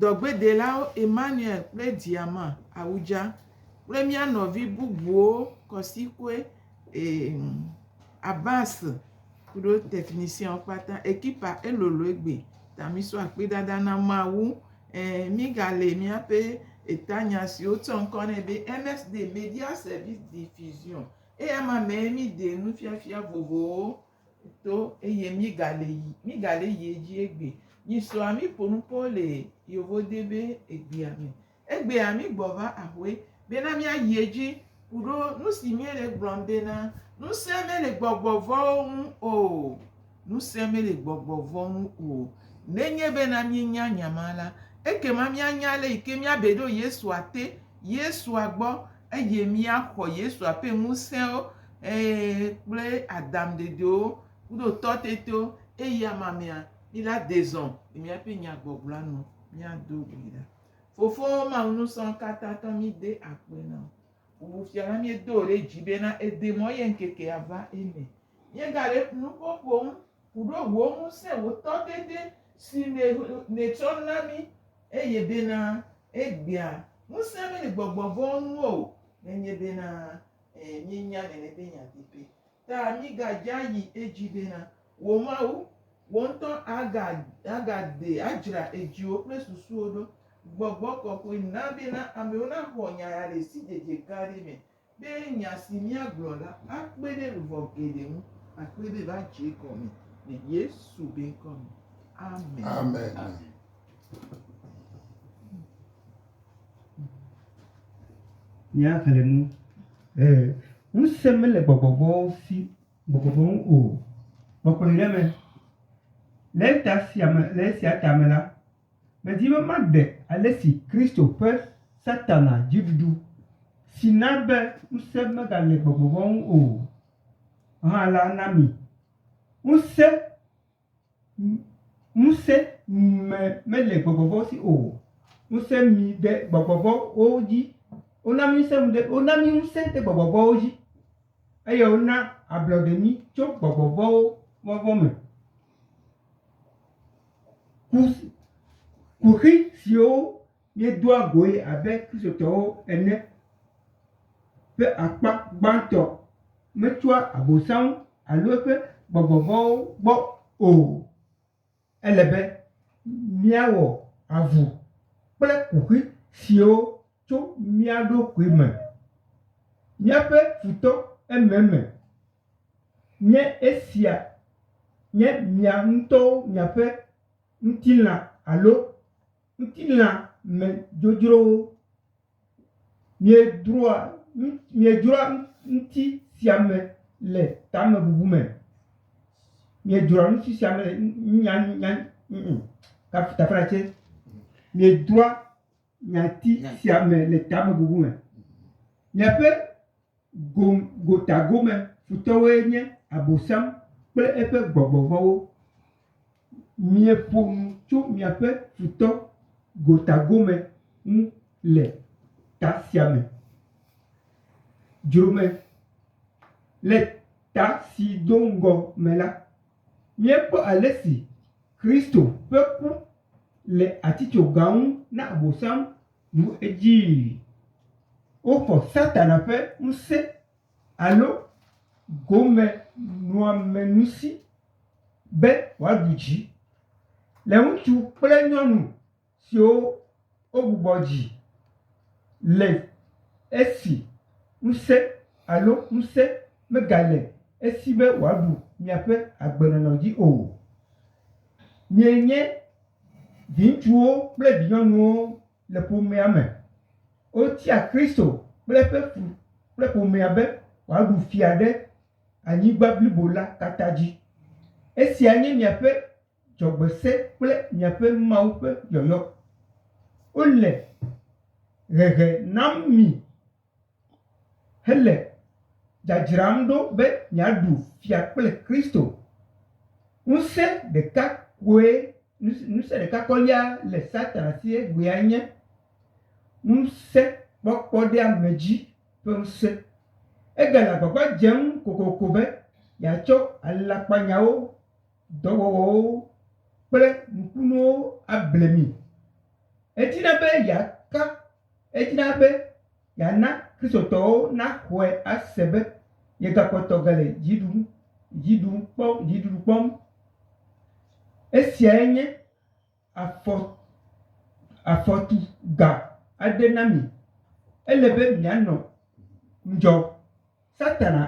Dɔgbedelawo Emmanuel kple Diama Awudja kple mía nɔvi bubuwo Kɔsikoe Abbas kuɖo technicienwo kpata. Ekipa elolo egbe ta misɔ akpedada na Mawu. Ẽ mígalé míaƒe etanya si wotsɔ ŋkɔ nɛ be MSD, Media Service Diffusion. Eyama mee mídee nufiafia vovovowo to eye mígale yi mígale yi edzi egbe. Nyisɔa míƒo nu kpɔ le yevode be egbea me. Egbea mígbɔva ahoe bena míayi edzi ku ɖo nu si míele gblɔm bena ŋusẽ mele gbɔgbɔ vɔ̃wo ŋu o. Ŋusẽ mele gbɔgbɔ vɔ̃ ŋu o. Nenye bena míenya nya ma la, ekema míanya ale yi ke míabe ɖo Yesua te, Yesua gbɔ eye míaxɔ Yesua ƒe ŋusẽwo Ee, kple Adam dedewo kudo tɔtetewo eya mamea, mi la dezɔ le miaƒe nyagbɔgblɔa nu miado gui ɖa. Fofowo Mawu Nusɔ̃katãtɔ, mi de akpe na wò. Bubu fia na miedo wò ɖe dzi bena ède mɔ ye ŋkekea va eme. Míegale nuƒo ƒom ku ɖo wò ŋusẽ, wò tɔtete si nè, nètsɔ na mí eye bena egbea ŋusẽ mí le gbɔgbɔ vɔ̃wo ŋu o. Nenye bena E, míenya nene be nya pɛpɛ. Ta mígadza yi edzi bena, wò Mawu, wò ŋutɔ aga, agade, adzra edziwò kple susuwò ɖo. Gbɔgbɔ kɔkɔe na bena amewo naxɔ nya ya le sidzedze gã aɖe me, be nya si míagblɔ la akpe ɖe luʋɔ geɖe ŋu, akpe be va dze egɔme le Yesu be ŋkɔ me. Amen. Amen. Míaxlẽ nu. Ee, ŋusẽ mele gbɔgbɔ vɔ̃wo si, gbɔgbɔ vɔ̃ ŋu o. Kpɔkplɔe ɖe eme. Le eta sia me, le esia ta me la, medi be maɖe ale si Kristo ƒe Satana dziɖuɖu si na be ŋusẽ megale gbɔgbɔ vɔ̃ ŋu o hã la na mi. Ŋusẽ. Ŋusẽ me mele gbɔgbɔ vɔ̃wo si o. Ŋusẽ mi ɖe gbɔgbɔ vɔ̃wo dzi. Wona mí ŋusẽ mi ɖe, wona mí ŋusẽ ɖe gbɔgbɔ vɔ̃wo dzi. Eye wona ablɔɖe mí tso gbɔgbɔ vɔ̃wo vɔvɔ̃ me. Ku, kuxi siwo míedoa goe abe Kristotɔwo ene ƒe akpa gbãtɔ metsoa Abosam alo eƒe gbɔgbɔ vɔ̃wo gbɔ o. Ele be míawɔ avu kple kuxi siwo tso mía ɖokui me. Míaƒe futɔ ememe nye esia nye mia ŋutɔwo miaƒe ŋutilã alo. Ŋutilã me dzodzrowo. Miedroa, miedzroa ŋuti sia me le tamebubu me. Miedzroa ŋuti sia me le nya, nya, ŋ, tafla tse. Miedzroa nyati sia me le tamebubu me. Miaƒe Gotagome futɔwoe nye Abosam kple eƒe gbɔgbɔ vɔ̃wo. Mieƒo nu tso miaƒe futɔ gotagome ŋu le ta sia me. Dzrome. Le ta si do ŋgɔ me la, míekpɔ ale si Kristo ƒe ku le atitsoga ŋu na Abosam. Bu edzii. Woxɔ Satana ƒe ŋusẽ alo gomenɔamenusi be wòaɖu dzi le ŋutsu kple nyɔnu siwo wogbugbɔ dzi le esi ŋusẽ alo ŋusẽ megale esi be wòaɖu miaƒe agbenɔnɔ dzi o. Mienye. Viŋutsuwo kple vinyɔnuwo le ƒomea me. Wotia Kristo kple eƒe ƒu kple ƒomea be wòaɖu fia ɖe anyigba blibo la katã dzi. Esia nye miaƒe dzɔgbese kple miaƒe Mawu ƒe yɔyɔ. Wole hehe nam mi. hele dzadzram ɖo be yeaɖu fia kple Kristo. Ŋusẽ ɖeka koe, ŋusẽ ɖeka kɔlia le Satana si egbea nye ŋusẽkpɔkpɔ ɖe ame dzi ƒe ŋusẽ. Egale agbagba dzem kokoko be yeatsɔ alakpanyawo, dɔwɔwɔwo kple nukunuwo able mi. Edina be yeaka Edina be yeana Kristotɔwo naxɔe ase be yegakpɔtɔ gale dziɖuɖu kpɔm. Esiae nye afɔtu gã aɖe na mi. Ele be mianɔ ŋudzɔ. Satana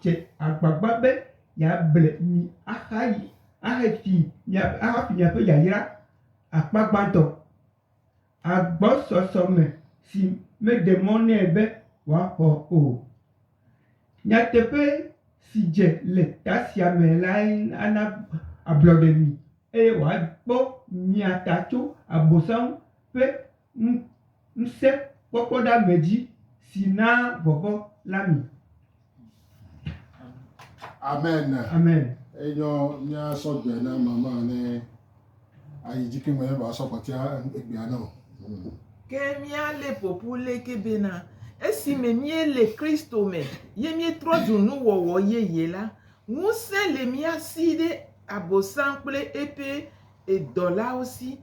dze agbagba be yeable mi ahafi miaƒe yayra akpa gbãtɔ. agbɔsɔsɔ me si meɖe mɔ nɛ be wòaxɔ o. Nyateƒe si dze le ta sia me lae ana ablɔɖe mi eye wòakpɔ mia ta tso Abosam ƒe ŋusẽkpɔkpɔɖeame dzi si naa vɔvɔ̃ la mi. Amen. Amen. Enyo nya sɔgbɛ na mama ne ayi dzi ke me ba sɔ kɔtia egbea na o. Hmm. Ke míale ƒoƒu leke bena esi me míele Kristo me ye míetrɔ zu nuwɔwɔ yeye la, ŋusẽ le mía si ɖe Abosam kple eƒe edɔlawo si.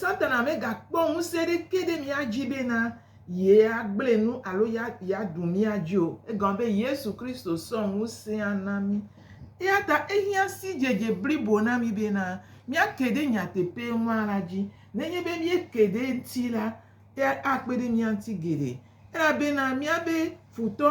Satana megakpɔ ŋusẽ ɖeke ɖe mía dzi bena yeagblẽ nu alo yeaɖu mía dzi o. Egɔme be Yesu Kristo sɔ ŋusẽa na mí. Eya ta ehiã sidzedze blibo na mí bena míake ɖe nyateƒe ma la dzi. Nenye be míeke ɖe eŋuti la, akpe ɖe mía ŋuti geɖe. Ela bena míabe futɔ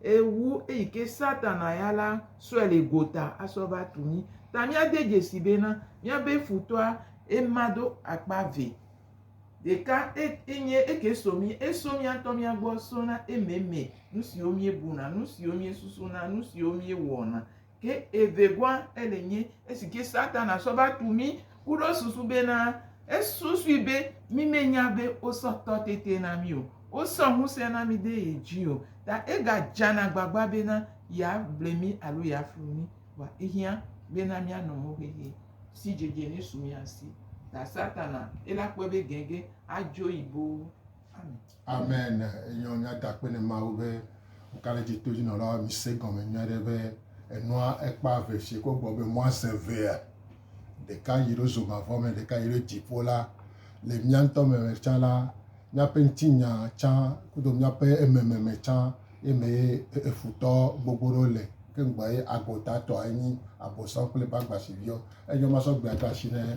Eye wu eyi ke Satana ya la sɔe le gota asɔ va tu mí. Ta míade dzesi bena, míabe futɔa ema do akpa ve. Ɖeka enye eke so mí, eso mía ŋutɔ mía gbɔ sona ememe, nu siwo míebuna, nu siwo míesusuna, nu siwo míewɔna, Ke evegɔa, ele nye esi ke Satana sɔ va tu mí ku ɖo susu be na esusui be mí me nya be wo sɔ tɔ tete na mí o, wo sɔ ŋusẽ na mí de ye dzi o, ta ega dzana gbagba be na ya ble mí alo ya flu mí. Vɔa ehiã be na mía nɔ mɔ xexi si dzedze ne su mía si. Ta Satana ela kpɔe be gɛgɛ a dzo yi boo. Amen. Amen enyɔ nyakpakpe ne Mawu be Okaleti to jinɔlawo mi se gɔme nyuie ɖe be enua ekpa ve fie ko gbɔ be mɔa se vea ɖeka yi ɖo zoma vɔ me ɖeka yi ɖo dziƒo la le mia ŋutɔ me me tsã la miaƒe ŋuti nya tsã kudo miaƒe ememe me tsã ye me ye efutɔ gbogbo ɖo le ke ŋgbɔ ye agota tɔ enyi abosɔ kple bagbasi viɔ enyɔ masɔ gbea ta shi ne e,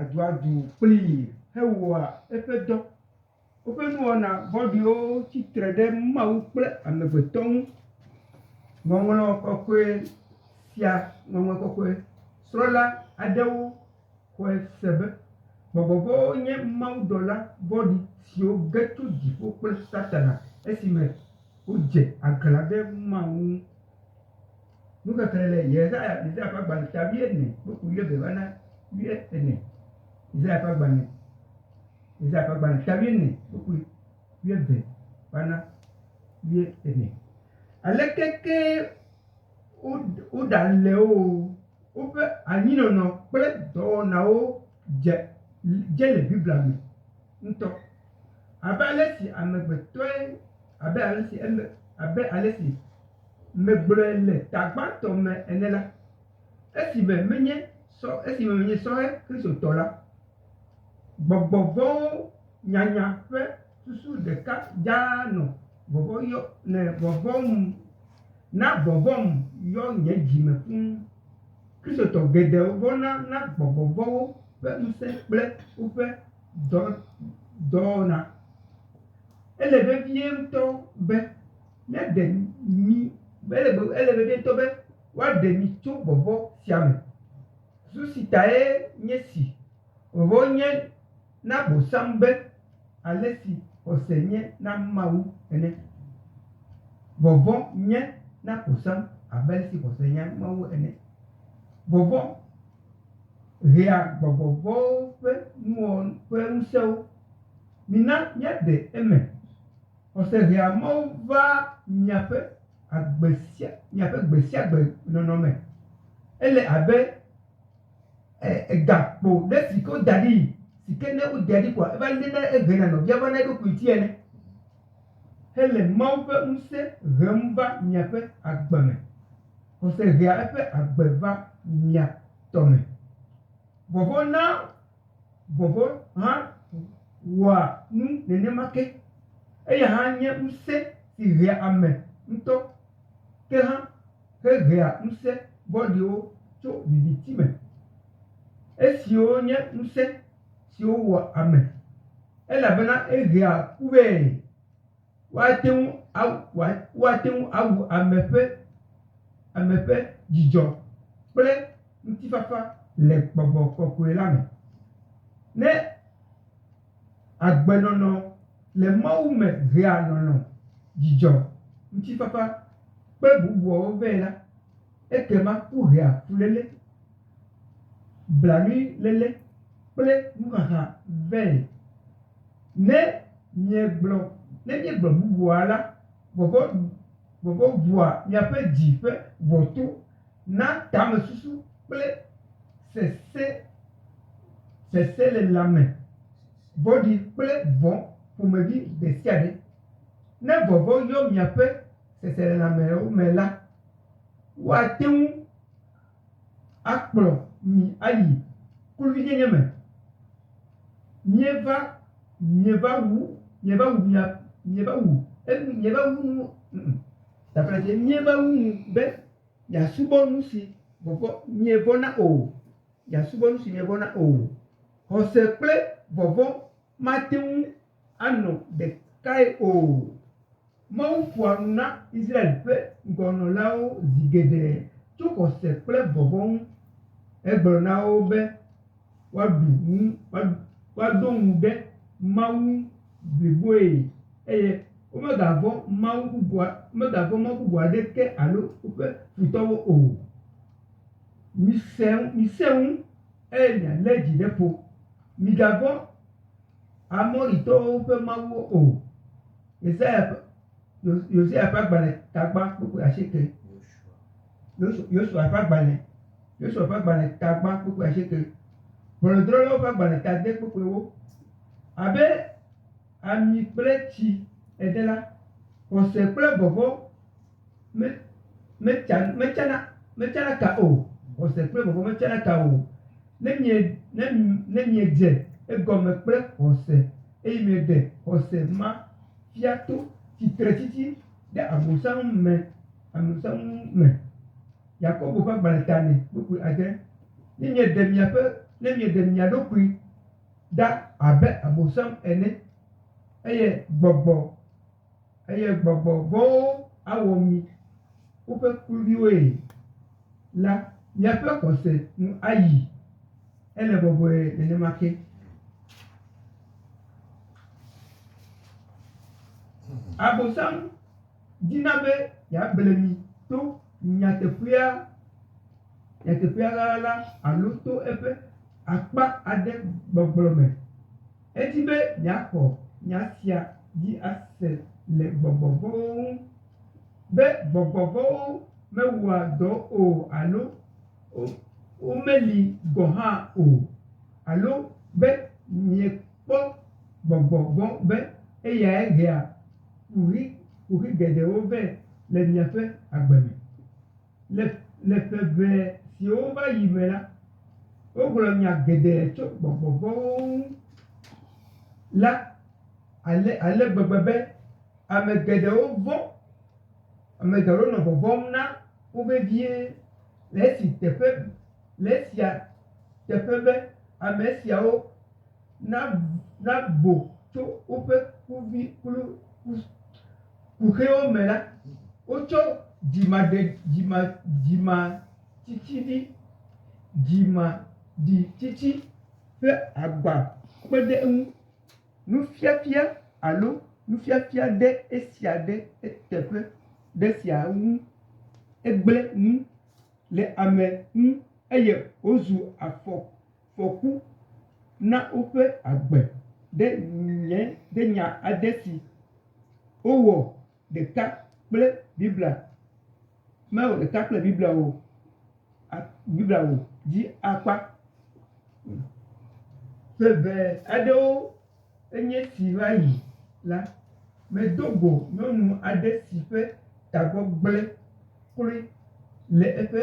aduadu kplii hewɔa eƒe dɔ. Woƒe nuwɔna vɔ̃ɖiwo tsi tre ɖe Mawu kple amegbetɔ ŋu. Ŋɔŋlɔ kɔkɔe sia, ŋɔŋlɔ kɔkɔe srɔ̃la aɖewo xɔe se be gbɔgbɔ vɔ̃wo nye mawudɔla vɔ̃ɖi siwo ge tso dziƒo kple Satana esime wodze aglã ɖe Mawu ŋu. Nuxexlẽ le Yesaya Yesaya ƒe agbalẽ sia wuiene kple ku wuieve va na wuiene. Yesaya ƒe agbalẽ Yesaya ƒe agbalẽ sia wuiene kple ku wuieve va na wuiene. Aleke ke woɖale wo o, woƒe anyinɔnɔ kple dɔwɔnawo dze dze le Biblia me ŋutɔ. Abe ale si amegbetɔe. Abe alesi eme, abe alesi megblɔe le ta gbãtɔ me ene la, esime menye sɔ, esime menye sɔhɛ Kristotɔ la, gbɔgbɔ vɔ̃wo nyanya ƒe susu ɖeka dzaa nɔ vɔvɔ̃ yɔ, nɔ vɔvɔ̃m, na vɔvɔ̃m yɔ nye dzi me fũ. Kristotɔ geɖewo vɔ̃na na gbɔgbɔ vɔ̃wo ƒe ŋusẽ kple woƒe dɔ, dɔwɔna. Ele vevie ŋutɔ be míaɖe mi, ele be, ele vevie ŋutɔ be woaɖe mi tso vɔvɔ̃ sia me. Susu si tae nye si, vɔvɔ̃ nye na Abosam be ale si xɔse nye na Mawu ene. Vɔvɔ̃ nye na Abosam abe ale si xɔse nye na Mawu ene. Vɔvɔ̃ hea gbɔgbɔ vɔ̃wo ƒe nuwɔwɔ ƒe ŋusẽwo. Mina míaɖe eme. Xɔse hea Mawu vaa miaƒe agbe sia miaƒe gbe sia gbe nɔnɔ me. Ele abe e egakpo ɖe si ke woda ɖii si ke ne wodea ɖi koa eva léna ehena nɔvia vana eɖokui ŋuti ene hele Mawu ƒe ŋusẽ hem va miaƒe agbe me. Xɔse hea eƒe agbe va mia tɔ me. Vɔvɔ̃ na Vɔvɔ̃ hã wɔa nu nenema ke. Eya hã nye ŋusẽ si hea ame ŋutɔ ke hã hehea ŋusẽ vɔ̃ɖiwo tso viviti me. Esiwo nye ŋusẽ siwo wɔa ame elabena ehea ku vɛ. Woate ŋu awu woa woate ŋu awu ame ƒe ame ƒe dzidzɔ kple ŋutifafa le gbɔgbɔ kɔkɔe la me. Ne agbenɔnɔ le Mawu me hea lɔlɔ̃, dzidzɔ, ŋutifafa kple bubuawo vɛ la, ekema kuhea fuléle. blanuiléle kple nuxaxa vɛ. Ne miegblɔ, ne míegblɔ bubua la, vɔvɔ̃, vɔvɔ̃ ʋua miaƒe dzi ƒe ʋɔto na tamesusu kple sesẽ, seselelãme vɔ̃ɖi kple vɔ̃ ƒomevi ɖe sia ɖe. Ne vɔvɔ̃ yɔ miaƒe seselelãmewo me la, woate ŋu akplɔ mi ayi kluvinyenye me. Mieva, mieva wu, mieva wu mia, mieva wu, mieva wu nu, ŋ-ŋ, taƒle dzie, mieva wu nu be miasubɔ nusi vɔvɔ̃, mievɔ̃na o, miasubɔ nusi mievɔ̃na o. Xɔse kple vɔvɔ̃. mate ŋu anɔ ɖekae o. Mawu ƒoa nu na Israel ƒe ŋgɔnɔlawo zi geɖe tso xɔse kple vɔvɔ̃ ŋu hegblɔ na wo be woaɖu ŋu, woado ŋu ɖe Mawu ŋu bliboe eye womegavɔ̃ mawu bubu aɖeke alo woƒe futɔwo o. Misẽ ŋu eye mialé dzi ɖe ƒo. Migavɔ̃ Amoritɔwo ƒe mawuwo o. Yesaya ƒe, Yosua ƒe agbalẽ tagba kpukpui asieke. Yosua ƒe agbalẽ, Yosua ƒe agbalẽ tagba kpukpui asieke. Ʋɔnudrɔ̃lawo ƒe agbalẽ ta ade kpukpui ewo. Abe ami kple tsi ene la, xɔse kple vɔvɔ̃. Me, metsa, metsana, metsana ka o. Xɔse kple vɔvɔ̃ metsana ka o. Ne mie, ne, ne miedze egɔme kple xɔse, eye mieɖe xɔse ma fia to tsitretsitsi ɖe Abosam me, Abosam ŋu me. Yakobo ƒe agbalẽ ta nɛ, kpukpui adre. Ne mieɖe miaƒe, ne mieɖe mia ɖokui ɖa abe Abosam ene, eye gbɔgbɔ. Eye gbɔgbɔ vɔ̃wo awɔ mi woƒe kluviwoe la, miaƒe xɔse nu ayi. Ele bɔbɔe nenema ke. Abosam dina be yeable mi to nyateƒea, nyateƒea ɣaɣla alo to eƒe akpa aɖe gbɔgblɔ me. Edi be yeaxɔ nya sia dzi ase le gbɔgbɔ vɔ̃wo ŋu, be gbɔgbɔ vɔ̃wo mewɔa dɔ o alo womeli gɔ̃ hã o, alo be miekpɔ gbɔgbɔ vɔ̃ be eyae hea kuxi geɖewo vɛ le miaƒe agbe me. Le, le ƒe ʋɛ siwo va yi me la, wogblɔ nya geɖe tso gbɔgbɔ vɔ̃wo ŋu la ale, ale gbegbe be ame geɖewo vɔ̃. Ame geɖewo nɔ vɔvɔ̃m na wo vevie le esi teƒe, le esia teƒe be ame siawo nav, navo tso woƒe kuvi, kplu, ku. kuxiwo me la, wotsɔ dzimaɖe, dzima, dzimatsitsidzi, dzimaɖitsitsi ƒe agba kpe ɖe eŋu. Nufiafia alo nufiafia ɖe esia ɖe eteƒe ɖe esia ŋu. Egblẽ nu le ame ŋu eye wozu afɔ, afɔku na woƒe agbe ɖe nye, ɖe nya aɖe si. wowɔ ɖeka kple Biblia, mewɔ ɖeka kple Biblia o, Biblia o dzi akpa ƒe ʋɛ aɖewo enye si va yi la, medo go nyɔnu aɖe si ƒe tagbɔ gblẽ kloe le eƒe.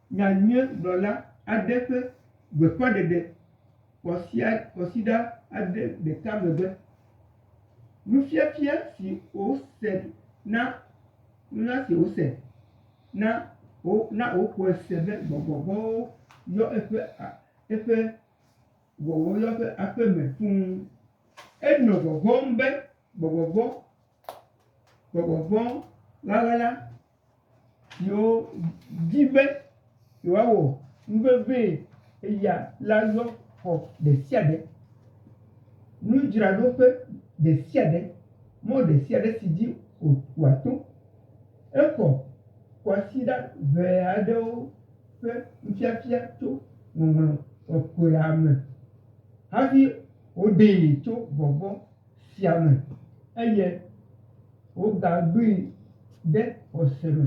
Nya nye gblɔla aɖe ƒe gbeƒãɖeɖe kɔsia kɔsiɖa aɖe ɖeka megbe. Nufiafia si wòse na nunya si wòse na wo na woxɔe se be gbɔgbɔ vɔ̃wo yɔ eƒe a eƒe wɔwɔ yɔ eƒe aƒeme fũu. Enɔ vɔvɔ̃m be gbɔgbɔ vɔ̃ gbɔgbɔ vɔ̃ wɔla la siwo di be yewoawɔ nu vevie eya la yɔ xɔ ɖe sia ɖe, nudzraɖoƒe ɖe sia ɖe, mɔ ɖe sia ɖe si dzi wòato. Exɔ kwasiɖa ŋee aɖewo ƒe nufiafia tso Ŋɔŋlɔ Kɔkɔea me hafi woɖee tso vɔvɔ̃. sia me eye wogaɖui ɖe xɔse me.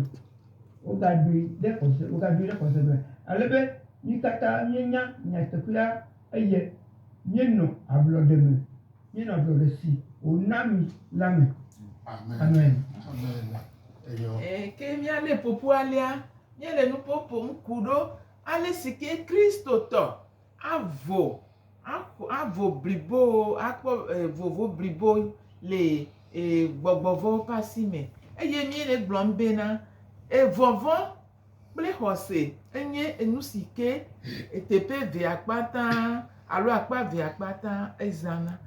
Wogaɖui ɖe xɔse, wogaɖui ɖe xɔse me ale be mí katã míenya nyateƒea eye míenɔ ablɔɖe me, míenɔ ablɔɖe si wòna mí la me. Amen. Ɛɛ, ke míalé ƒoƒu alea, míele nuƒo ƒom ku ɖo ale si ke Kristotɔ Avo, axɔ, avo bliboo, akpɔ e vovo blibo le e gbɔgbɔ vɔ̃wo ƒe asi me. Eye míe le egblɔm bena, evɔvɔ̃ kple xɔse enye enu si ke eteƒe eve akpatã alo akpa eve akpatã ezãna.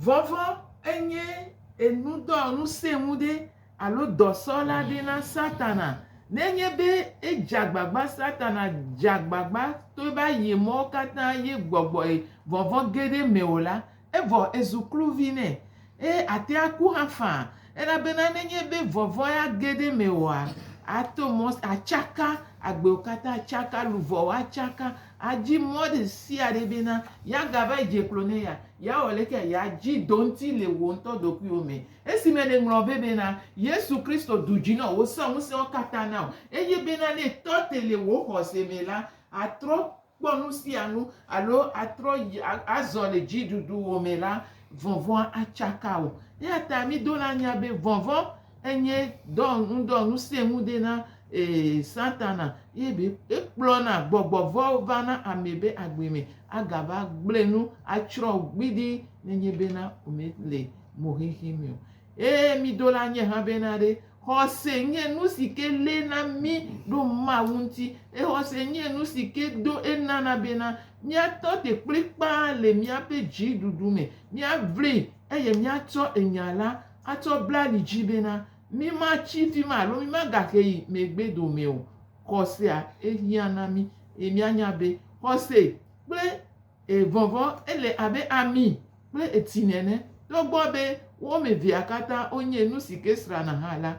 Vɔvɔ̃ enye enudɔ, ŋusẽ ŋu ɖe Alo dɔsɔla ɖi na Satana. Nenye be edze agbagba Satana dze agbagba to eƒe ayemɔwo katã ye gbɔgbɔe vɔvɔ̃ ge ɖe eme o la, evɔ ezu kluvi nɛ, eye ate aku hã faa. Elabena nenye be vɔvɔ̃ ya ge ɖe mewòa, ato mɔ, atsaka, agbewo katã atsaka, luʋɔwo atsaka, adi mɔ ɖe sia ɖe bena yeagava yi dze klo ne ya, yeawɔ lekea, yeadzi do ŋuti le wò ŋutɔ ɖokuiwò me. Esime nèŋlɔ vɛ bena, Yesu Kristo ɖu dzi na wò, wòsẽ ŋusẽwo katã na wò, eye bena ne ètɔ te le wò xɔse me la, àtrɔ kpɔ nu sia nu alo atrɔ yi a, azɔ le dziɖuɖuwò me la, vɔvɔ̃a atsaka wò. Eya ta mido la nya be vɔvɔ̃ enye dɔ ŋudɔŋusẽŋude na, ee, Satana, eye be ekplɔna gbɔgbɔ vɔ̃wo va na ame be agbe me agava gblẽ nu atsrɔ̃ wò gbidii nenye bena womele mo xexi me o. Eye mi do la nye hã be na ɖe xɔse nye nu si ke lé na mi ɖo Mawu ŋuti. Eye xɔse nye nu si ke do enana be na mía tɔ te kplikpaa le mía ƒe dzi ɖuɖu me. Mía vli eye mía tsɔ enya la atsɔ bla li dzi be na mi ma tsi fi ma alo mi ma ga xe yi megbe dome o. Xɔsea ehiã na mi eye mía nya be xɔse kple E vɔvɔ, ele abe ami kple etsi nene. Togbɔ be wo ame evea katã wonye nu si ke srãna hã la,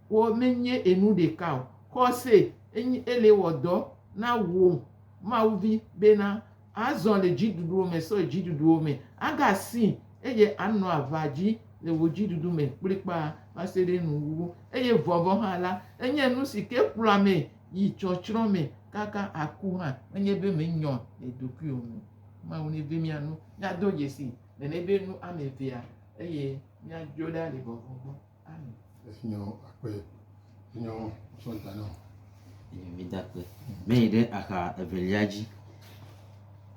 wo menye enu ɖeka o. Xɔse enye ele wɔ dɔ na wò Mawu vi bena azɔ le dziɖuɖuwo me, sɔ dziɖuɖuwo me, aga si eye anɔ ava dzi le wò dziɖuɖu me kplikpaa va se ɖe nuwuwu. Eye vɔvɔ hã la, enye nu si ke kplɔa ame yi tsɔtsrɔ̃ me kaka aku hã, menye be menyɔ nye ɖokui o. Mawu neve mía nu míado dzesi nene be nu ame evea eye míadzo ɖa le vɔvɔ̃ gbɔ. Amen. Efinyɔ akpe, finyɔ sɔ da nɔ. Eye mida akpe. Meyi ɖe axa evelia dzi.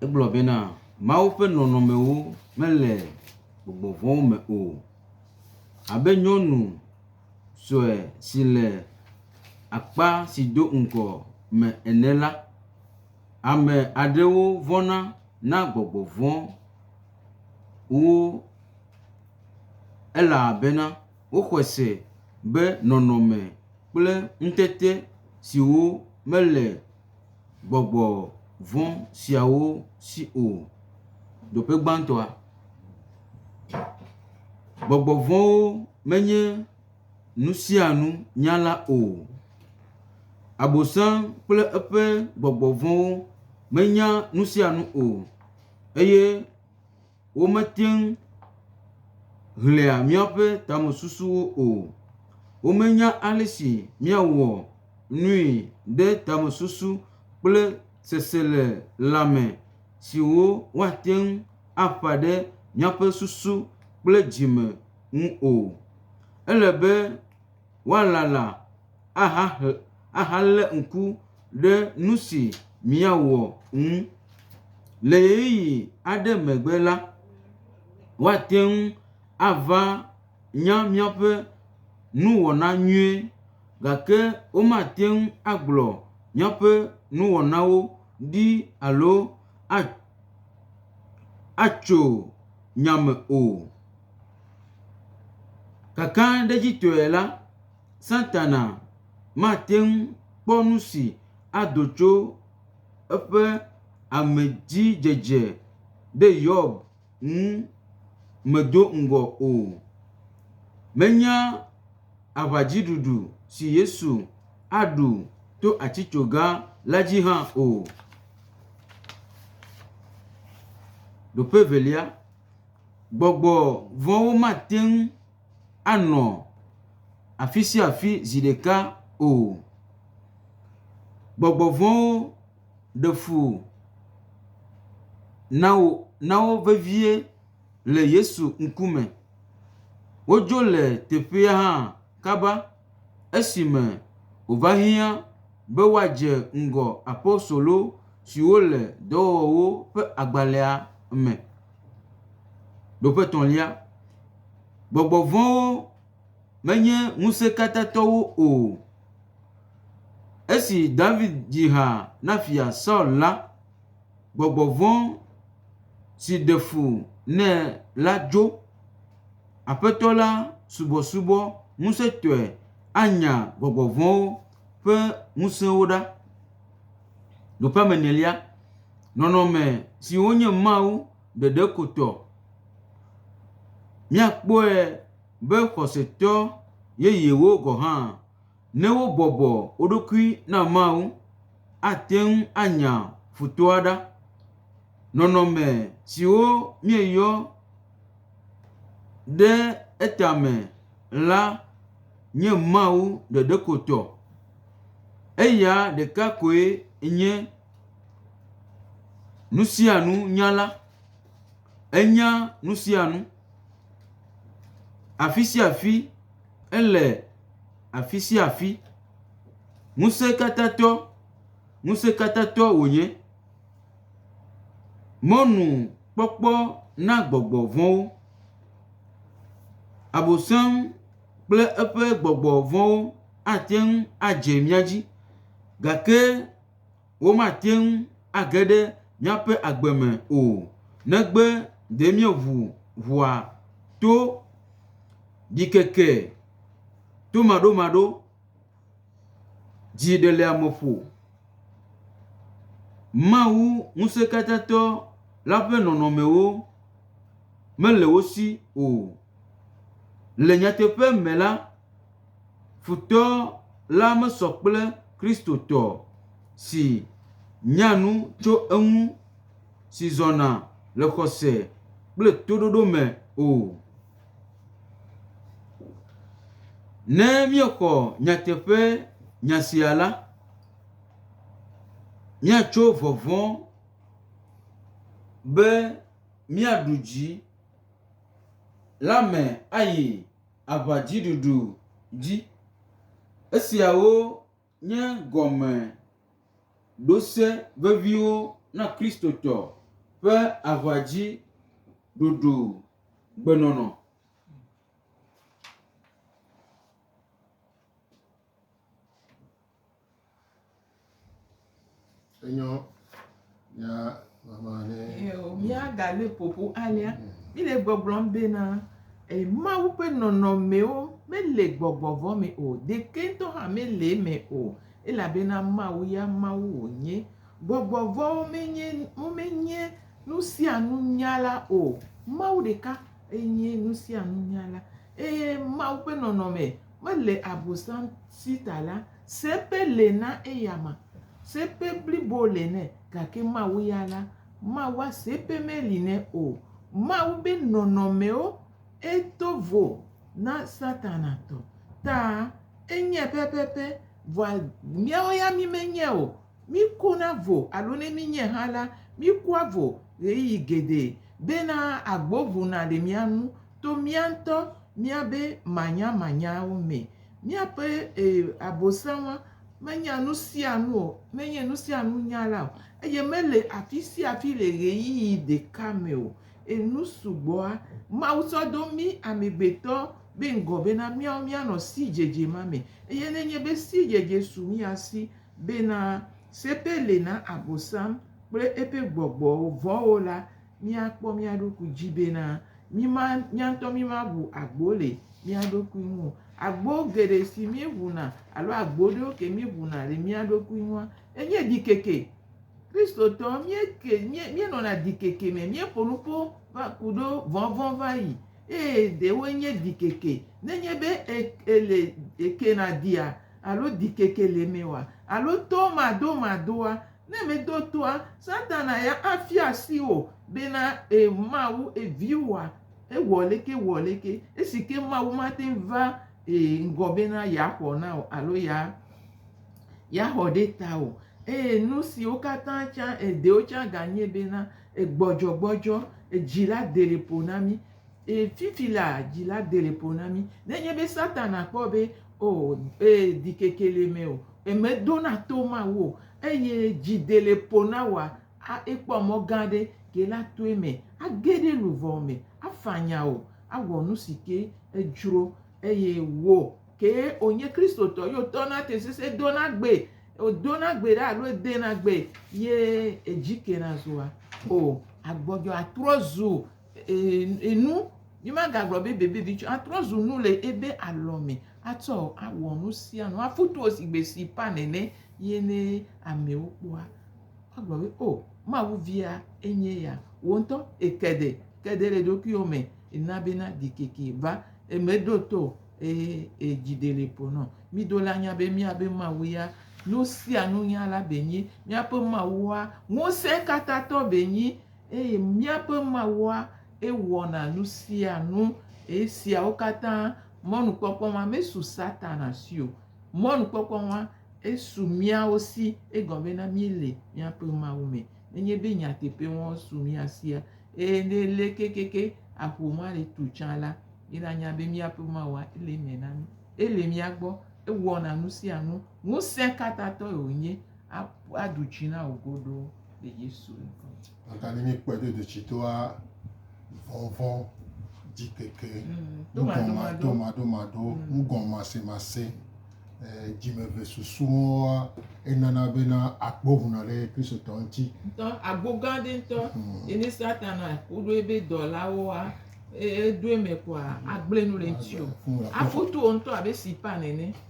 Egblɔ bena Mawu ƒe nɔnɔmewo mele gbɔgbɔ vɔ̃wo me o. Abe nyɔnu sue si le akpa si do ŋgɔ me ene la, ame aɖewo vɔ̃na na gbɔgbɔ vɔ̃ wo elabena woxɔe se be nɔnɔme kple ŋutete siwo mele gbɔgbɔ vɔ̃ siawo si o. Ɖoƒe gbãtɔa, gbɔgbɔ vɔ̃wo. menye nusianu nyala o. Abosam kple eƒe gbɔgbɔ vɔ̃wo menya nusianu o eye wometeŋ ʋlia míaƒe tamesusuwo o. Womenya ale si míawɔ nui ɖe tamesusu kple seselelãme siwo woateŋ aƒã ɖe míaƒe susu kple dzime. ŋu o. Ele be woalala ahahe ahalé ŋku ɖe nu si míawɔ ŋu. Le ɣeyiɣi aɖe megbe la, woate ŋu ava nya míaƒe nuwɔna nyuie gake womate ŋu agblɔ míaƒe nuwɔnawo ɖi alo a atso nya me o. Kakaɖedzitɔe la, Satana mate ŋu kpɔ nu si ado tso eƒe amedzidzedze ɖe Yob ŋu me do ŋgɔ o. Menya aʋadziɖuɖu si Yesu aɖu to atitsoga la dzi hã o. Gbɔgbɔ vɔ̃wo mate ŋu anɔ afi sia afi zi ɖeka o. Gbɔgbɔ vɔ̃wo ɖe fu na wo na wo vevie le Yesu ŋkume. Wodzo le teƒea hã kaba esime wòva hiã be woadze ŋgɔ apostolo siwo le Dɔwɔwɔwo ƒe agbalẽa me. Nɔƒe etɔ̃lia, gbɔgbɔ vɔ̃wo menye ŋusẽkatãtɔwo o. Esi David dzi ha na Fia Saul la, gbɔgbɔ vɔ̃ si ɖe fu nɛ la dzo. Aƒetɔ la subɔsubɔ ŋusẽtɔe anya gbɔgbɔ vɔ̃wo ƒe ŋusẽwo ɖa. Nɔƒe enelia. Nɔnɔme si wonye Mawu ɖeɖe ko tɔ. Míakpɔe be xɔsetɔ yeyewo gɔ̃ hã, ne wobɔbɔ wo ɖokui na Mawu, ate ŋu anya futɔa ɖa. Nɔnɔme siwo míeyɔ ɖe etame la nye Mawu ɖeɖe ko tɔ. Eya ɖeka koe nye. Nusianu nyala, enya nusianu, afisiafi ele afisiafi, ŋusẽkatãtɔ, ŋusẽkatãtɔ wònye, mɔnu kpɔkpɔ na gbɔgbɔ vɔ̃wo, Abosam kple eƒe gbɔgbɔ vɔ̃wo ateŋu adze mía dzi gake. womate ŋu age ɖe míaƒe agbe me o negbe ɖe míeʋu ʋɔa to ɖikeke tomaɖomaɖo, dziɖeleameƒo, Mawu Ŋusẽkatãtɔ la ƒe nɔnɔmewo mele wo si o. Le nyateƒe me la, futɔ la mesɔ kple Kristotɔ si nya nu tso eŋu, si zɔna le xɔse kple toɖoɖo me o. Ne míexɔ nyateƒe nya sia la, míatso vɔvɔ̃ be míaɖu dzi. la me ayi aʋadziɖuɖu dzi. Esiawo nye gɔmeɖose veviwo na Kristotɔ ƒe aʋadziɖuɖugbenɔnɔ. Enyo ya mama ne. Yo mia gale popo alia. Mi le gbɔgblɔm be na e Mawu ƒe nɔnɔmewo me le gbɔgbɔ vɔ me o. Ɖeke ŋutɔ hã me le eme o elabena Mawu ya Mawu wo nye. Gbɔgbɔ vɔwo me nye wo me nye nusianu nyala o. Mawu ɖeka enye nusianu nyala eye Mawu ƒe nɔnɔme Mele Abosam si ta la, seƒe le na eyama, seƒe blibo le nɛ, gake Mawu ya la, Mawua seƒe meli nɛ o. Mawu be nɔnɔmewo e do vo na Satana tɔ ta enye pɛpɛpɛ, vɔa míawo ya mí me nye o. Mí ko na vo alo ne mí nye hã la, mí kua vo ɣeyiɣi geɖe be na agbo ŋu na le mía ŋu. To mía ŋutɔ míabe manyamanyawo mee. Míaƒe ee Abosama menya nu sia nu o, menye nu sia nu nyala o eye mele afi sia afi le ɣeyiɣi ɖeka me o. Enu sugbɔa Mawu tsɔ do mí amegbetɔ be ŋgɔ bena míawo míanɔ sidzedze ma me eye ne enye be sidzedze su mía si bena seƒe li na Abosam kple eƒe gbɔgbɔwo vɔ̃wo la, míakpɔ mía ɖokui dzi bena míma, mía ŋutɔ mímaʋu agbo le mía ɖokui ŋu o. Agbo geɖe si míeʋuna alo agbo ɖewo ke míeʋuna le mía ɖokui ŋua, enye ɖikeke. Kristotɔ míeke, míe, míenɔna ɖikeke me. Míeƒo nu ƒo va ku ɖo vɔvɔ̃ va yi. Eye ɖewoe nye ɖikeke. Nenye be e, èle, èkena ɖia alo ɖikeke le mewòa, alo tɔmadomadoa, Ne mèdo toa, Satana ya afia asi wò bena ee Mawu ee viwòa, ewɔ leke wɔ leke, esi ke Mawu mate ŋu va ee ŋgɔ bena yeaxɔ na wò alo ya yeaxɔ ɖe tawò o. Eye nu siwo katã tsã ee ɖewo tsã ganye bena ee gbɔdzɔgbɔdzɔ, ee dzi la dele ƒo na mí. Ee, fifi la, dzi la de le ƒo na mí. Nenye be Satana kpɔ be, o, ee, ɖikeke le eme o, mèdona to Mawu o, eye dzi de le ƒo na wòa, a, ekpɔ mɔ gã aɖe ke la to eme age ɖe luʋɔ me, afanya wò, awɔ nu si ke edzro. Eye wò kee wònye Kristotɔ ye wòtɔna te sesẽ dona gbe, wòdona gbe ɖa alo edena gbe ye edzi kena zua? O, agbɔdzɔ atrɔ zu enu yi magagblɔ be bebevi tsɔ atrɔ zu nu le ebe alɔ me atsɔ awɔ nu sia nu aƒu to si gbe si ƒã nene ye ne amewo kpɔa agblɔ be o Mawu via enye ya. Wò ŋutɔ èke ɖe ke ɖe le ɖokuiwò me èna bena ɖikeke va eme ɖo to o eye edzi ɖe le ƒo nɔ. Mi do la nya be miabe Mawu ya nu sia nu nya la be nyi. Miaƒe Mawua ŋusẽ katã tɔ be nyi. eye míaƒe Mawua ewɔna nu sia nu. Esiawo katã mɔnukpɔkpɔ ma mesu Satana si o. Mɔnukpɔkpɔ ma esu míawo si egɔme na míele míaƒe Mawu me. Nenye be nyateƒe ma su mía sia eye ne ele kekeke aƒo ma le tu tsã la, ye nanya be míaƒe Mawua ele eme na mí. Ele mía gbɔ, ewɔna nu sia nu. Ŋusẽkatãtɔe wònye aɖu dzi na wò godoo. le Yesu ŋkɔ. Agani mi kpɔ do do tsi doa vɔvɔ dzi keke domadomado ŋgɔmasemase dzimeve susuwoa enana bena akpɔ ʋuna ɖe kristotɔ ŋuti. Ŋutɔ agbo gã aɖe ŋutɔ ye ne satana woɖo ebe dɔlawoa eɖo eme koa agblẽ nu le ŋuti o. Aƒu to wo ŋutɔ abe sipa nene.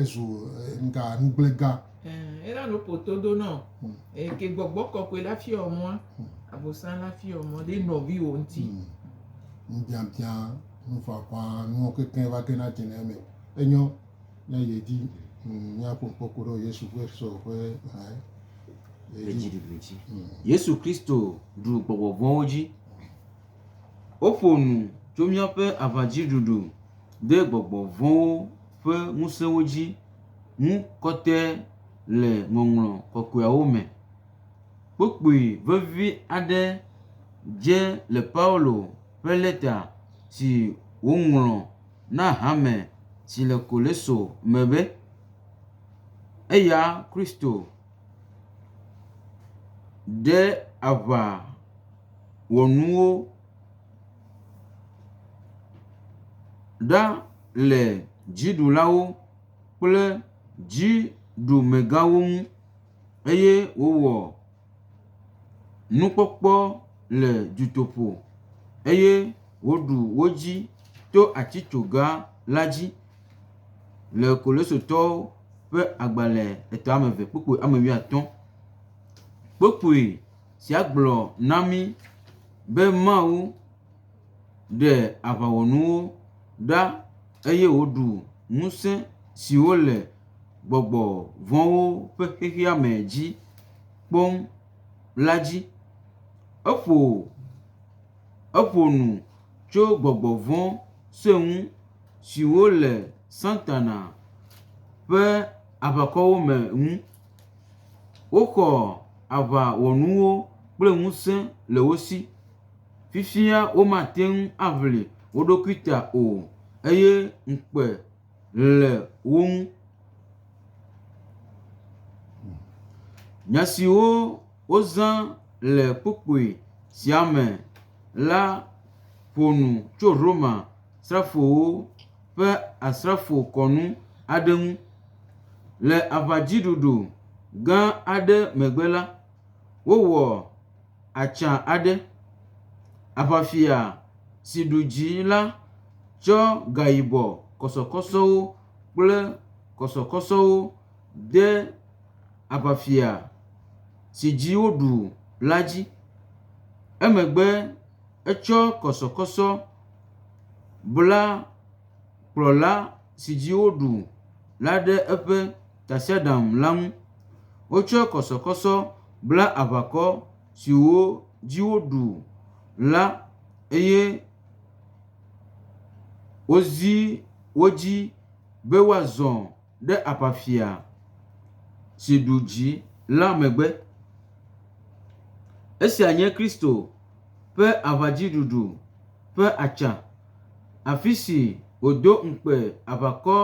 Ezu ŋga nugblega. Ẽ, ena nuko todo na wò. Hmm. Eye ke gbɔgbɔ kɔkɔe la fiɔ mɔ, hmm. abosan la fiɔ mɔ ɖe nɔviwo ŋuti. Hmm. Nubiabiã, nufafa, nuwo kekeŋ va ke na tene eme. Enyɔ ne yedi míaƒo ŋkpɔkpɔ ɖe Yesu ƒe sɔ ƒe hã. Edziɖuɖudzi. Yesu Kristo ɖu gbɔgbɔ vɔ̃wo dzi. Woƒo nu tso míaƒe aʋadziɖuɖu de gbɔgbɔ vɔ̃wo ƒe ŋusẽwo dzi ŋu kɔte le Ŋɔŋlɔ Kɔkɔeawo me. Kpukpui vevi aɖe dze le Paulo ƒe lɛta si wòŋlɔ na hame si le Koleso me be, Eya Kristo ɖe aʋa wɔnuwo. Ɖa le dziɖulawo kple dziɖumegawo ŋu eye wowɔ nukpɔkpɔ le dutoƒo eye woɖu wo dzi to atitsoga la dzi le Kolisotɔwo ƒe agbalẽ etɔ̃ame eve kpukpui ame wuiatɔ̃. Kpukpui. Sia gblɔ na mí be Mawu ɖe aʋawɔnuwo ɖa eye wòɖu ŋusẽ siwo le gbɔgbɔ vɔ̃wo ƒe xexea me dzi kpɔm la dzi. Eƒo eƒo nu tso gbɔgbɔ vɔ̃ sue ŋu siwo le Satana ƒe aʋakɔwo me ŋu. Woxɔ aʋawɔnuwo kple ŋusẽ le wo si. Fifia womate ŋu aʋli wo ɖokui ta o eye ŋukpe le wo ŋu. Nya siwo wozã le kpukpui sia me la ƒo nu tso Romasrafowo. ƒe asrafo kɔnu aɖe ŋu. Le aʋadziɖuɖu gã aɖe megbe la, wowɔ atsa aɖe. Aʋafia si ɖu dzi la tsɔ gayibɔ kɔsɔkɔsɔwo kple kɔsɔkɔsɔwo de aʋafia si dzi woɖu la dzi. Emegbe. Etsɔ kɔsɔkɔsɔ bla kplɔla si dzi woɖu la ɖe eƒe tasiaɖam la ŋu. Wotsɔ kɔsɔkɔsɔ bla aʋakɔ siwo dzi woɖu la eye wozi wo dzi be woazɔ. ɖe aʋafia si ɖu dzi la megbe. Esia nye Kristo ƒe aʋadziɖuɖu ƒe atsa, afi si wòdo ŋukpe aʋakɔ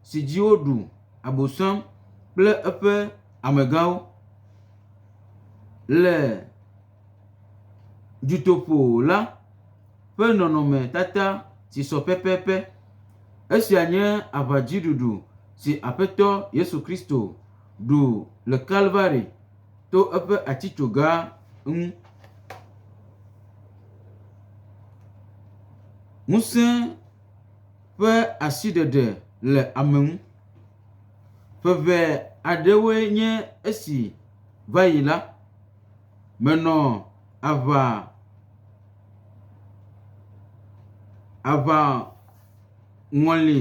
si dzi woɖu Abosam kple eƒe amegãwo le. dutoƒo la ƒe nɔnɔmetata si sɔ pɛpɛpɛ. Esia nye aŋadziɖuɖu si Aƒetɔ Yesu Kristo ɖu le Kalvari to eƒe atitsoga ŋu. Ŋusẽ ƒe asiɖeɖe le ame ŋu. Ŋeŋe aɖewoe nye esi va yi la. Menɔ aʋa, aʋaŋɔli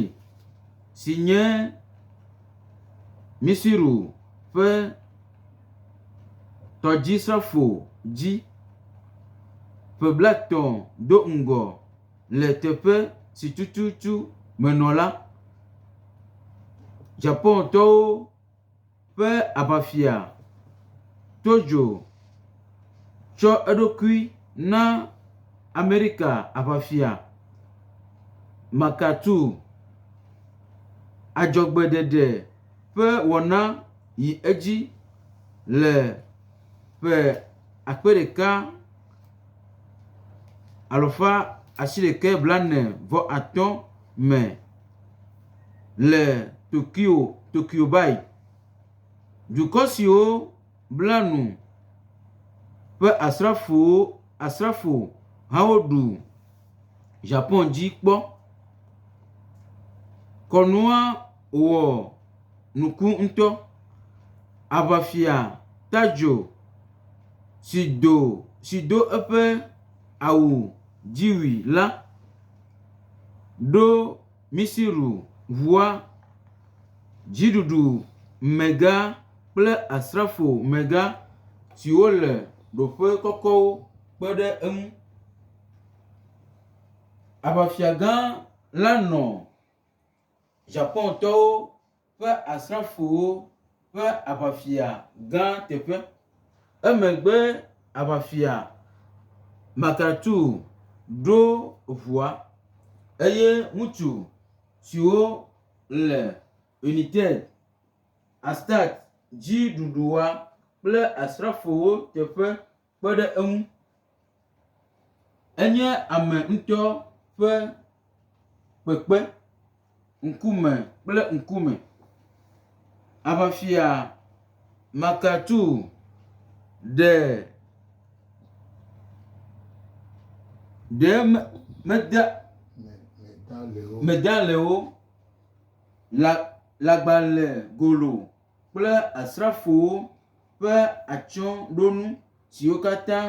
si nye Misiru ƒe tɔdzisrafo dzi ƒe blaetɔ̃ do ŋgɔ le teƒe si tututu menɔ la, Ʒapontɔwo. ƒe aʋafia Tojo tsɔ eɖokui na Amerika aʋafia MacArthur adzɔgbeɖeɖe ƒe wɔna yi edzi le ƒe akpe ɖeka alafa asiɖeke blaene-vɔ-atɔ̃ me. le Tokyo Tokyobayi, dukɔ siwo bla nu ƒe asrafowo asrafo hawo ɖu Japan dzi kpɔ. Kɔnua wɔ nuku ŋutɔ. Aʋafia Tajo si do si do eƒe awu dziwui la. ɖo Misiru ŋua, dziɖuɖumegã kple asrafomegã siwo le ɖoƒe kɔkɔwo kpe ɖe eŋu. Aʋafiagã la nɔ Ʒapontɔwo. ƒe asrafowo ƒe aʋafia gã teƒe. Emegbe aʋafia Makatu ɖo ʋua eye ŋutsu siwo le United Astat dziɖuɖua kple asrafowo teƒe kpe ɖe eŋu. Enye ame ŋutɔ ƒe kpekpe ŋkume kple ŋkume. Aʋafia Makatu ɖe ɖee me meda medalewo la lagbale golo. kple asrafowo ƒe atsyɔ̃ɖonu siwo katã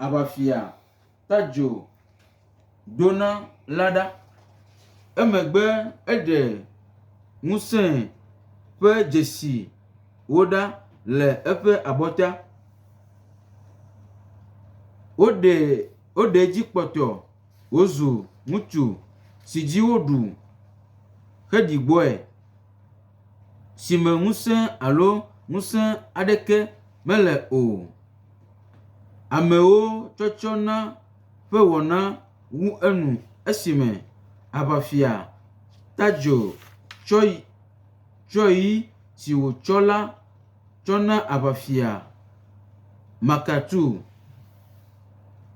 Aʋafia Tajo do na la ɖa. Emegbe eɖe ŋusẽ ƒe dzesiwo ɖa le eƒe abɔta. Woɖe woɖe edzi kpɔtɔ wòzu ŋutsu si dzi woɖu heɖi gbɔe. si me ŋusẽ alo ŋusẽ aɖeke mele o. Amewo tsɔtsɔ na ƒe wɔna wu enu esime aŋafia Tadjo tsɔ yi tsɔ yi si wotsɔ la tsɔ na aŋafia Makatu.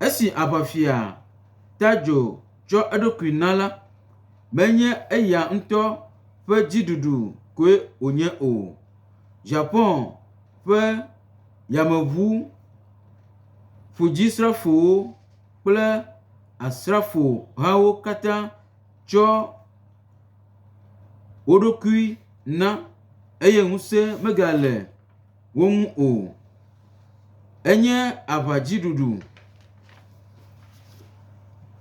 Esi aŋafia Tadjo. tsɔ eɖokui na la, menye eya ŋutɔ ƒe dziɖuɖu koe wònye o. Japan ƒe yameʋu ƒudzisrafowo kple asrafo hawo katã tsɔ woɖokui na eye ŋusẽ megale. wo ŋu o. Enye aʋadziɖuɖu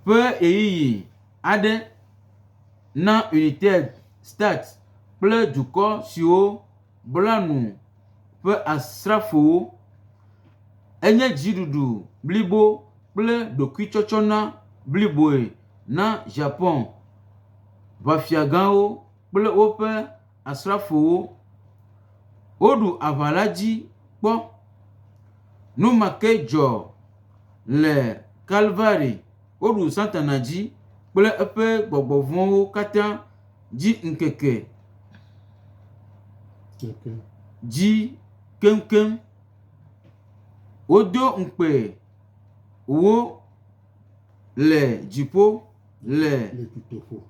ƒe ɣeyiɣi aɖe na UNITED States kple dukɔ siwo bla nu ƒe asrafowo. Enye dziɖuɖu blibo kple ɖokuitsɔtsɔ na bliboe na Japan ʋafiagãwo kple woƒe. asrafowo. Woɖu aʋa la dzi kpɔ. Nu ma ke dzɔ le Kalvari. Woɖu Satana dzi kple eƒe gbɔgbɔ vɔ̃wo katã dzi ŋkeke dzi keŋkeŋ. Wodo ŋukpe wo le dziƒo. le dutoƒo.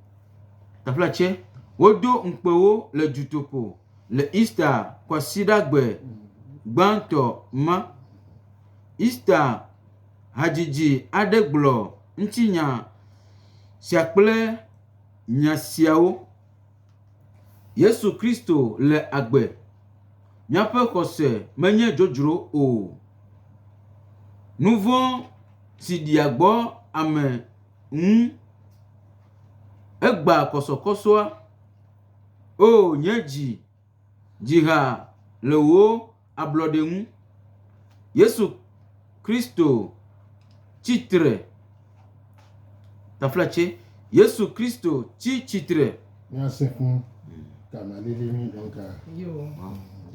Teƒe tse, wodo ŋukpewo le dutoƒo le Easter kwasiɖagbe gbãtɔ ma. Easter hadzidzi aɖe gblɔ ŋutinya sia kple nya siawo. Yesu Kristo le agbe. Míaƒe xɔse menye dzodzro o. Nuvɔ̃ si ɖia gbɔ ame. ŋu. Egbã kɔsɔkɔsɔa, Oo nye dzi, dzi ha le wò ablɔɖe ŋu. Yesu Kristo tsi tre. Yesu Kristo tsi tsitre Míasẽ ƒu ka ma lili nyui dɔn ka. Yo.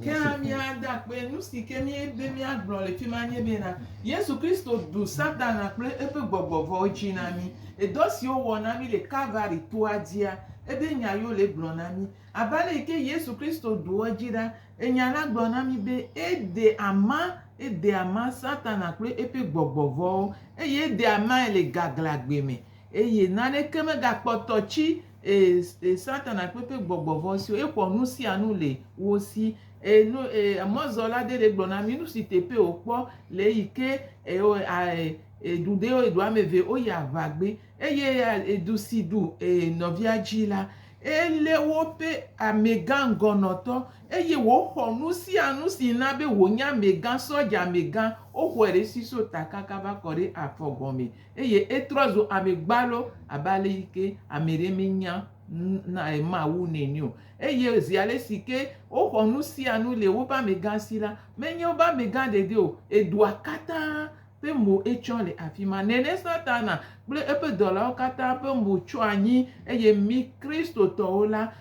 Ke hã míada akpe nu si ke míebe míagblɔ le fi ma nye bena, Yesu Kristo ɖu Satana kple eƒe gbɔgbɔ vɔ̃wo dzi na mí. Edɔ si wowɔ na mí le Kalvari toa dzia, ebe nya yewo le gblɔ na mí. Abe ale yi ke Yesu Kristo ɖu wo dzi ɖa, enya la gblɔ na mí be ede ama, ede ama Satana kple eƒe gbɔgbɔ vɔ̃wo, eye ede amae le gaglãgbe me, eye naneke megakpɔtɔ tsi Ee, ee, Satana kple eƒe gbɔgbɔ vɔ̃ siwo exɔ nu sia nu le wo si. Ee, nu, ee, emɔzɔla aɖe ɖe gblɔ na mí nu si teƒee wòkpɔ le eyi ke eo, a, e, ɖu ɖe eɖu ame eve woyi aʋa gbe. Eye a, e, du si ɖu e, nɔvia dzi la, elé woƒe amegã ŋgɔnɔtɔ eye wòxɔ nu sia nu si na be wònye amegã, sɔdza amegã, woxɔe ɖe esi so ta kaka va kɔ ɖe afɔ gɔme. Eye etrɔ zu ame gbalo abe ale yi ke ame aɖe menya Mawu nene o. Eye zi ale si ke woxɔ nu sia nu le woƒe amegã si la, menye woƒe amegã ɖeɖe o, edua katã ƒe mo etsɔ le afi ma. Nene Satana kple eƒe dɔlawo katã ƒe mo tsyɔ anyi eye mí Kristotɔwo la,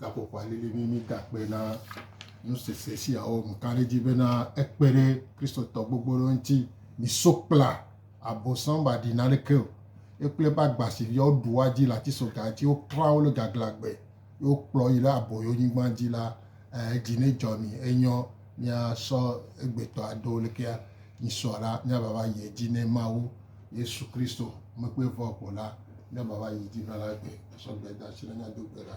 gaƒoƒoa lili be mídakpe na nusese siawo ŋu ka ɖe edzi bena ekpe ɖe Kristotɔ gbogbo ɖewo ŋuti. Miso kpla Abosam ba ɖi naneke o. Ekple eƒe agbasiviwo ɖua dzi le atisoga dzi, woklã wo le gaglãgbe, ye wokplɔ wo yi ɖe aboyonyigba dzi la, eh, dzi nedzɔ mi, enyɔ. Míasɔ egbetɔ aɖo lekea mísɔ la, míava va yi edzi ne Mawu, Yesu Kristo, mekpɔe vɔ ko la, míava va yi edzi va la gbe, asɔ gbe da asi na mía do gbe la.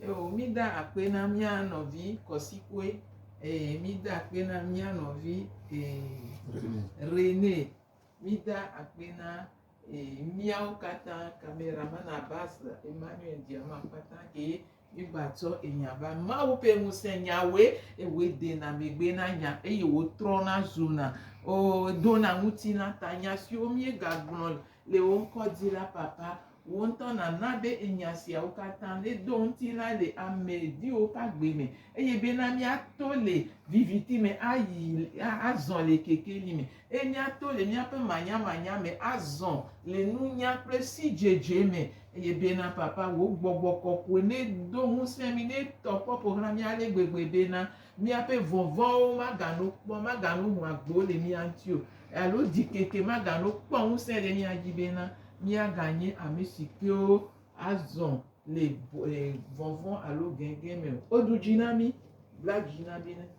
Eo, mída akpe na mía nɔvi Kɔsikue, eye mída akpe na mía nɔvi ee, Renee. Mída akpe na Miawo katã camera man Abbas Emmanuel Diama katã kee mígbatsɔ enya va. Mawu ƒe ŋusẽ nyawoe ewɔe dena megbe na nya eye wòtrɔna zuna o dona ŋutilã ta. Nya siwo míegagblɔ le wò ŋkɔ dzi la, Papa, wò ŋutɔ nàna be enya siawo katã nedo ŋutilã le ame viwò ƒe agbe me eye bena míato le viviti me ayi azɔ le kekeli me. Eye míato le míaƒe manyamanya me azɔ le nunya kple sidzedze me. Eye bena, Papa, Wò Gbɔgbɔ Kɔkɔe nedo ŋusẽ mí, netɔ kpɔ ƒo xlã mí ale gbegbe bena míaƒe vɔvɔ̃wo magano kpɔ, magano ho agbo le mía ŋuti o, alo ɖikeke magano kpɔ ŋusẽ ɖe mía dzi bena míaganye ame si kewo azɔ le vɔvɔ̃ alo gẽgẽ me o. Woɖu dzi na mí, bla dzi na mí.